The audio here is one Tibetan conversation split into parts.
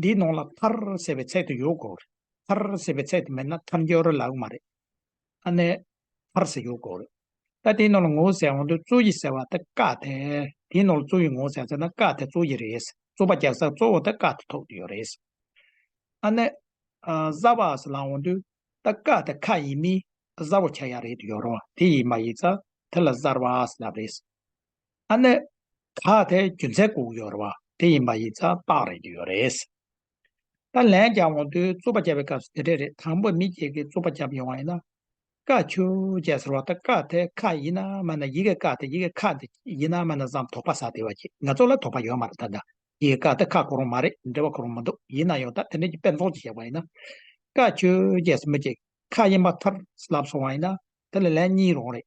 འདིའི་ནང་ལ་ཐར་ཟེར་བའི་ཚད་དུ་ཡོད་དགོས་རེད། ཐར་ཟེར་བའི་ཚད་དུ་མེད་ན་ཐར་མགྱོགས་རོལ་ལགས་མ་རེད། ཨ་ནེ། ཐར་ཟེར་ཡོད་དགོས་རེད། ད་དེའི་ནང་ལ་ངོ་བོ་ཟེར་འོང་དུས་གཙོ་ཡི་ཟེར་བ་དེ་བཀག་སྟེ། དེའི་ནང་ལ་གཙོ་ཡི་ངོ་བོ་ཟེར་ཟེར་ན་བཀག་དེ་གཙོ་ཡི་རེད། གཙོ་པ་རྒྱག་ས་གཙོ་བོ་དེ་བཀག་དེ་ཐོག་དུ་ཡོད་རེད། ཨ་ནེ། བཟའ་བ་ཟེར་ལ་འོང་དུས་ད་བཀག་དེ་ཁ་ཡིན་མིན་བཟའ་བོ་ཆ་ཡག་རེད་དུ་ཡོད་རོགས་དེ་ཡིན་མ་ཡིན་ཚ་དེ་ལ་བཟར་བ་ཟེར་ལབ་རེད། ཨ་ནེ། ད་དེ་རྒྱུ་མཚན་བསྒུགས་ཡོད་རེད་བ་དེ་ཡིན་པ་ཡིག་ཚགས་དཔག་རེག་གི་ཡོད་རེད། ད་ལན་རྒྱབ་འོང་དུས་རྩུབ་པ་བརྒྱབ་པའི་སྐབས་སུ་དེ་འདྲས་རེད་དང་པོ་མི་སྒེར་གི་རྩུབ་པ་བརྒྱབ་ཡོང་བ་ཡིན་ན། ཀ་ཆུ་བཅས་ཟེར་བ་དང་ཀ་དེ་ཁ་ཡིན་ན་མ་ན་ཡི་གེ་ཀ་དེ་ཡི་གེ་ཁ་དེ་ཡིན་ན་མ་ན་བསམ་དོགས་པ་ཟ་དེ་བ་ཅིག་ང་ཚོ་ལ་དོགས་པ་ཡོད་མ་རེད་ད་ན་ཡི་གེ་ཀ་དེ་ཁ་གོ་རུང་མ་རེད་འབྲེལ་བ་གོ་རུང་མ་འདུག་ཡིན་ན་ཡང་ད་དེ་འདྲས་ཀྱི་དཔེ་ཚོགས་ཅིག་བཞག་པ་ཡིན་ན། ཀ་ཆུ་བཅས་སུ་མི་བཅས་ཁ་ཡིན་པ་ཐར་ལབ་སོང་བ་ཡིན་ན་དེ་ལ་ལན་གཉིས་རོང་རེད།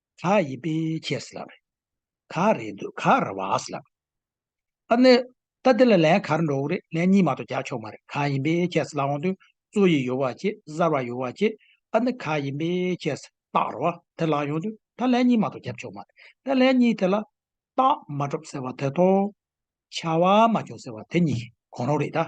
ག་ཡི་པེ་ཁྱེ་སི་ལབ། ག་རེ་འདུ་ག་ར་བ་སི་ལབ། ཨ་ནི། ད་དེ་ལ་ལན་ག་རེ་འགྲོ་འོ་རེད་ལན་གཉིས་མ་གཏོགས་རྒྱག་ཆོག་མ་རེད་ག་ཡིན་པེ་ཁྱེ་སི་ལ་འོང་དུས་གཙོ་ཡི་ཡོ་བ་ཁྱེ་གཟར་བ་ཡོ་བ་ཁྱེ་ཨ་ནི་ག་ཡིན་པེ་ཁྱེ་སི་སྟག་ར་བ་དེ་ལ་ཡོང་དུས་ད་ལན་གཉིས་མ་གཏོགས་རྒྱབ་ཆོག་མ་རེད་ད་ལན་གཉིས་དེ་ལ། སྟག་མ་གྲོབ་ཟེར་བ་དེ་ཐོ། ཆ་བ་མ་བྱུང་ཟེར་བ་དེ་གཉིས་གོ་ནོ་རེད་ད།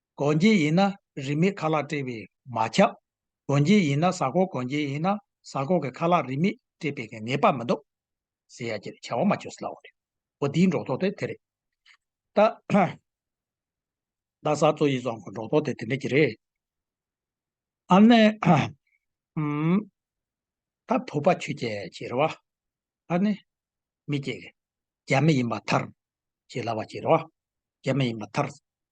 སྒོ་འབྱེད་ཡིན་ན་རིན་མེད་ཁ་ལག་སྤྲད་པས་མ་ཁྱབ། སྒོ་འབྱེད་ཡིན་ན་ཟ་ཁོག་སྒོ་འབྱེད་ཡིན་ན་ཟ་ཁོག་གི་ཁ་ལག་རིན་མེད་སྤྲད་པའི་ངེས་པ་མི་འདུག། ཟེར་ཡ་ཀྱི་བྱ་བ་མ་བྱོས་སླ་བོ་རེད། འོ་འདིའི་འབྲོག་ཐོག་དེ་དེ་རེད། ད། རྡ་ས་གཙོ་ཡི་རྫོང་གི་འབྲོག་ཐོག་དེ་དེ་འདྲ་གྱི་རེད། ཨ་ནེ། ཧུམ། ད་བུ་པ་ཆོས་རྒྱལ་གྱི་རེད་བ། ཨ་ནེ། མི་སྐྱེ། རྒྱ་མི་ཡིན་པ་མཐར། ཞེས་ལབ་པ་གྱི་རེད་བ། རྒྱ་མི་ཡིན་པ་མཐར།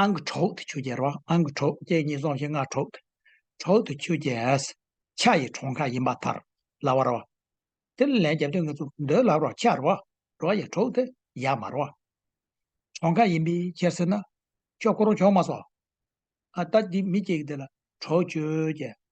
ཨང་གི་གྲོགས་དེ་ཆུ་རྒྱལ་རོ་ཨང་གི་གྲོགས་ཀྱེ་གཉིས་སོང་ཞིང་སྔགས་གྲོགས། གྲོགས་དེ་ཆུ་རྒྱལ། ཕྱག་ཡི་གྲོང་ཁ་ཡིན་པ་ཐར་ལ་བ་རོ། དེ་ལ་ལན་བརྒྱ་བདུན་ངེས་ཚུལ་འདོད་ལ་རོ་ཕྱག་རོ། རོ་ཡི་གྲོགས་དེ་ཡར་མར་བ། གྲོང་ཁ་ཡིན་པའི་ཕྱིར་ཟེར་ན། ཁྱོད་ཁོ་རང་ཆོག་མ་སོགས། ཨ་ད་དེ་མི་སྐྱེ་གི་དེ་ལ་གྲོགས་ཆུ་རྒྱལ།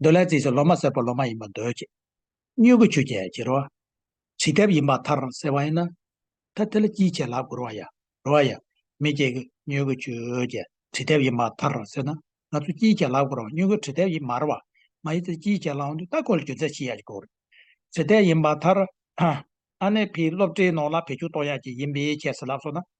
འདོད་ལྷའི་རྩིས་སུ་ལོ་མ་སེར་པོ་ལོ་མ་ཡིན་པར་འདོད་ཅིག། སྙུག་གུ་ཆུ་སྐྱེས་བྱི་རུ་བ། བྱི་དེབ་ཡིན་པ་མཐར་སེལ་བ་ཡིན། ད་དེ་ལ་ཅིའི་ཕྱིར་ལག་བསྒུར་བ་ཡ། རུ་བ་ཡ། མི་སྐྱེས་ཀྱི་སྙུག་གུ་ཆུ་སྐྱེས་བྱི་དེབ་ཡིན་པ་མཐར་སེལ་ན། ང་ཚོས་ཅིའི་ཕྱིར་ལག་བསྒུར་བ་སྙུག་གུ་བྱི་དེབ་ཡིན་མར་བ། མ་ཡི་ཚེ་ཅིའི་ཕྱིར་ལག་འདུས་སྟ་གོན་ལ་རྒྱུ་མཚན་ཤི་ཡ་ཅིག་བསྒུར། བྱི་དེབ་ཡིན་པ་མཐར། ཨ་ནེ་བྷིས་སློབ་གྲྭའི་ནང་ལ་བེད་སྤྱོད་གཏོང་ཡ་ཅིག་ཡིན་པའི་ཁྱད་ཟེར་ལབ་སོང་ན།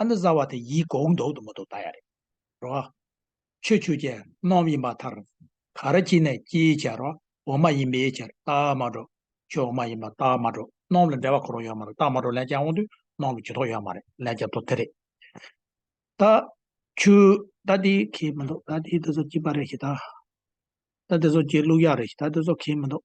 ཨ་མདོ་བཟའ་བ་དེ་ཡིད་འགོག་འདོག་ཏུ་མ་འདུག་ད་ཡ་རེད་རོ། ཆོས་ཆུ་ཅན་སྣོམ་ཡིན་པ་མཐར། ག་ར་ཅི་ནས་ཅིའི་ཕྱིར་རོ་འོ་མ་ཡིན་པའི་ཕྱིར་རྟགས་མ་སྒྲོག་ཆོས་འོ་མ་ཡིན་པ་རྟགས་མ་སྒྲོག་སྣོམ་ལ་འབྲེལ་བ་གོ་རོགས་ཡོད་མ་རེད་རྟགས་མ་སྒྲོག་ལན་བརྒྱ་འོང་དུས་སྣོམ་ལ་ཇུས་ཐོག་ཡོད་མ་རེད་ལན་བརྒྱ་ཐོག་དེ་རེད། ད་ཆུ་ད་དེ་ཁེ་མི་འདུག་ད་དེ་དེ་ཚོ་སྐྱིད་པ་རེད་ཤི་ད། ད་དེ་ཚོ་སྐྱིད་ལུགས་ཡག་རེད་ཤི་ད་དེ་ཚོ་ཁེ་མི་འདུག།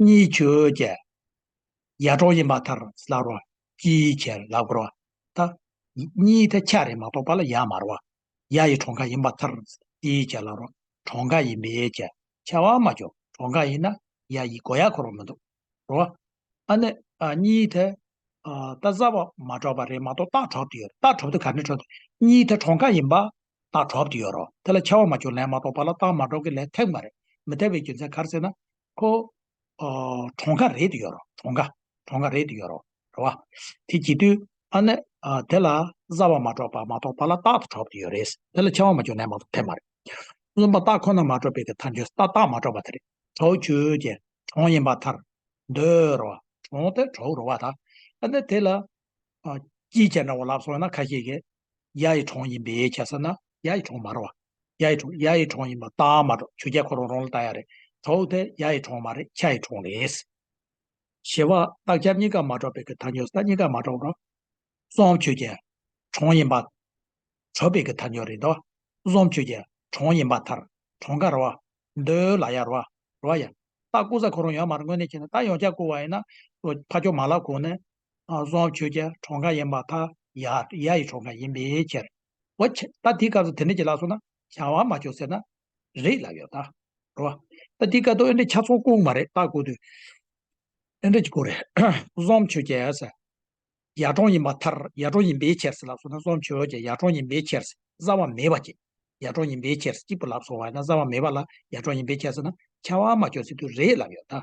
གཉིས་ཆོས་ཀྱི་ཡལ་འགྲོ་ཡིན་པ་ལྟར་སླར་རོ། ཅིའི་ཕྱིར་ལ་དགོད་རོ། ད་གཉིས་ཐལ་ཆ་རེ་མ་གཏོགས་པ་ལ་ཡང་མ་རོ། ཡ་ཡི་གྲོང་ཁ་ཡིན་པ་ལྟར་ཅིའི་ཕྱིར་ལ་རོ། གྲོང་ཁ་ཡིན་པས་ཀྱི་ཆེ་བ་མ་བྱུང་གྲོང་ཁ་ཡིན་ན་ཡ་ཡི་སྒོ་ཡ་འཁོར་བ་མི་འདུག་རོ། ཨ་ནི། གཉིས་ཐལ། ད་བཟའ་བ་མ་གྲོགས་པ་རེ་མ་གཏོགས་སྟག་གྲོགས་དེ་ཡོད་རེད་སྟག་གྲོགས་དེ་ག་ནས་གྲོགས་དེ། གཉིས་ཐལ་གྲོང་ཁ་ཡིན་པ་རྟགས་གྲོགས་ཀྱི་ཡོད་རོགས་དེ་ལ་ཆེ་བ་མ་བྱུང་ལན་མ་གཏོགས་པ་ལ་རྟགས་མ་གྲོགས་ཀྱི་ལན་ཐེབས་མ་རེད་མི་ཐེབས་པའི་རྒྱུ་མཚན་གར་ཟེར་ན། ཁོ། གྲོང་ཁ་རེད་དུ་ཡོད་རོགས་གྲོང་ཁ། གྲོང་ཁ་རེད་དུ་ཡོད་རོགས་རེད་བ། དེ་གྱིས་དུས། ཨ་ནི། དེ་ལ་བཟའ་བ་མ་གྲོགས་པ་མ་གཏོགས་པ་ལ་རྟགས་དུ་གྲོགས་ཀྱི་ཡོད་རེད། དེ་ལ་ཆེ་བ་མ་བྱུང་ལན་མ་གཏོགས་ཐེབས་མ་རེད། རྩོམ་པ་རྟགས་ཁོ་ན་མ་གྲོགས་པའི་གི་མཐར་འཇོག་སྟ་རྟགས་མ་གྲོགས་པ་དེ་རེད། གྲོགས་བྱོས་ཀྱི། གྲོང་ཡིན་པ་མཐར། འདོད་རོགས། གྲོང་དེ་གྲོགས་རོགས་བ་ད། ཨ་ནི་དེ་ལ། སྐྱིད་ཅེས་འདྲ་བ་ལབ་སོང་ན་ཁ་ཤེས་ཀྱི། གཡའ་ཡི་གྲོང་ཡིན་པས་ཁྱད་བསད་ན་གཡའ་ཡི་གྲོང་མ་རེད་བ། གཡའ་ཡི་གྲོང་གཡའ་ཡི་གྲོང་ཡིན་པ་རྟགས་མ་གྲོགས་ཆུ་རྒྱལ་ཁོ་རང་རང་ལ་བལྟ་ཡ་རེད་གྲོགས་དེ་གཡའ་ཡི་གྲོང་མ་རེད་ཁྱ་ཡི་གྲོང་རེད། ཞེས་པ་རྟགས་འཆར་གཉིས་ཀ་མ་གྲོགས་པའི་གི་ཐ་ཉོ་ས་གཉིས་ཀ་མ་གྲོགས་རོ། གསུམ་ཆུ་རྒྱལ་གྲོང་ཡིན་པ། གྲོགས་པའི་གི་ཐ་ཉོ་རེད་དོ། གསུམ་ཆུ་རྒྱལ་གྲོང་ཡིན་པ་ཐར་གྲོང་ག་རེད་བ། འདོད་ལ་ཡ་རེད་བ། རེད་བ་ཡ། རྟགས་བསྐུར་ས་ཁོ་རང་ཡོད་མ་རེད་དངོས་གནས་ཁྱེད་ནས་རྟགས་ཡོངས་ཁྱབ་བསྐུར་བ་ཡིན་ན། ཕ་ཁྱོ་མ་ལ་གོ་ནས་བཟོ་བཅོས་ཀྱི་གྲོང་ཁ་ཡིན་པ་དང་ཡ་ཡ་ཡི་གྲོང་ཁ་ཡིན་པའི་ཕྱིར། འོ་ཁྱི། ད་དེའི་སྐབས་སུ་དེ་འདྲ་བྱེད་ལགས་སོང་ན་བྱ་བ་མ་བྱོས་ཟེར་ན། རེད་ལབ་ཡོད་ད། རོ། ད་དེའི་སྐབས་དུ་ཨེ་འདྲ་ཁྱ་ཚོང་ལྐུགས་མ་རེད་ད་དགོས་དུས། ཨེ་འདྲ་དགོས་རེད། བཟོ་བཅོས་ཀྱི། ཡ་གྲོང་ཡིན་པ་མཐར་ཡ་གྲོང་ཡིན་པའི་ཕྱིར་ཟེར་ལབ་སོང་ན་བཟོ་བཅོས་ཀྱི་ཡ་གྲོང་ཡིན་པའི་ཕྱིར་བཟའ་བ་མེད་པ་གཅིག། ཡ་གྲོང་ཡིན་པའི་ཕྱིར་གཅིག་པུ་ལབ་སོང་བ་ཡིན་ན་བཟའ་བ་མེད་པ་ལ་ཡ་གྲོང་ཡིན་པའི་ཕྱིར་ཟེར་ན་བྱ་བ་མ་བྱོས་ཟེར་དུས་རེད་ལབ་ཡོད་ད།